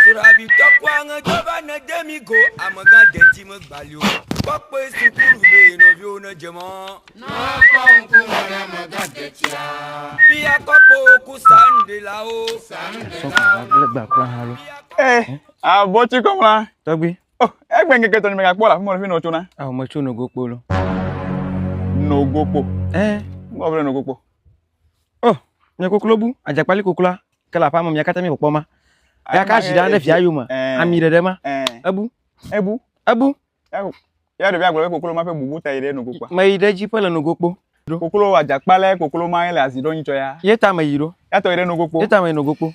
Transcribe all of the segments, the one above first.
Srɔabi tɔkpoa ŋe dɔ va ne de mi go amegã deti me gbalio kpɔkpɔe sukulu be nɔviwo ne dze mɔ. Nɔa kpɔ ŋku me ne amegã detia. Bia kpɔkpɔ ku san de la o. San de la o. Sɔkò gba kura hã lo. Eh, abɔ tsi kɔ mla. Tɔgbi. Oh, egbe ŋkeke tɔ ni me gakpɔ la fumɔ le fi nɔ tso na. Ah, me tso nogokpo lo. Nogokpo. Eh. Ngɔ vle nogokpo. Oh, nye koklo bu, adzakpali koklua, ke le aƒea me mia katã mi kpɔkpɔ ma. Ya ka zi ɖa ɖe via yome, eh. ami ɖeɖe ma. Eh. Ebu. Ebu. Ebu. Ya ɖevia gblɔ be koklo ma ƒe bubu ta yi ɖe nogo kpa. Me yi ɖe edzi ƒe le nogo kpo. Koklo adzakpala koklo ma le azi ɖo nyitsɔ ya. Ye ta me yi ɖo. Ya tɔ yi ɖe nogo kpo. Ye ta me yi nogo kpo.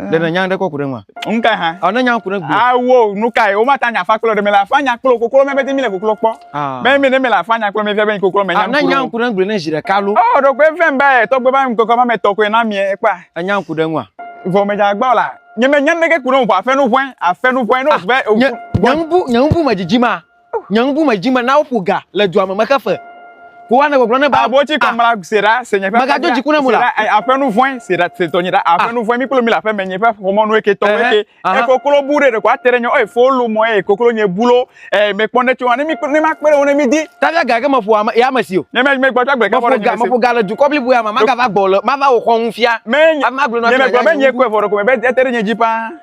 ɖe ne nya ɖe kɔ ku ɖe ŋua nu ka hã ɔ ne nya ku ɖe gbe awo nu ka ye wo ma ta nya fa kple ɖe me la fa nya kple koklo me be mi le koklo kpɔ be mi ne me la fa nya kple me fia be koklo me nya ne nya ku ɖe gbe ne zi ɖe ka lo ɔ ɖo gbe vem be tɔgbe ba mi koklo ma me tɔ ko na mi e kpa nya ku ɖe ŋua vɔ me dza gbɔ la nye me nya ne ke ku ɖe ŋu aƒe nu vɔe aƒe nu vɔe no ve nyangu nyangu me dzidzi ma Nye ŋku me dzi me na woƒo ga le dua me mexe fe. Ko woanɔ gbɔgblɔm ne be. Abotsi kɔ mla sera se nye ƒe. Megadzo dziku ne mu la. Aƒenu vɔe sera se tɔnye ɖa aƒenu vɔe mi kplo mi le aƒeme nye ƒe xɔmɔ nu eke tɔwo eke. Ekoklo bu ɖe ɖeko ate ɖe nye ɔe fo lu mɔ eye koklo nye bu lo e me kpɔ ne tso wa ne mi ne ma kpe ɖe wo ne mi di. Tavia ga ke me ƒo ame ya me si o. Nye me me gbɔ tsa gbe ke fɔ ga me ƒo ga le dukɔ blibo ya me ma ga va gbɔ le ma va wo xɔ ŋu fia. Me ma gblɔ na mi. Nye me gbɔ be nye kɔe vɔ ɖeko me be ete ɖe nye dzi paa.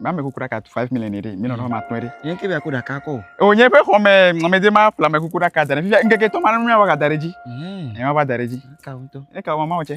ma me kuku ɖaka five million ɖe mi nɔnɔ ma tɔe ɖe. yẹn kí bẹ kó ɖaka kọ. o nye ƒe xɔmɛ mɔmɛdze ma fla me kuku ɖaka da ɖe fifia ŋkeke tɔ ma ne nua wa da ɖe dzi. ẹ ma va da ɖe dzi. ẹ ka wo mama wo tsɛ.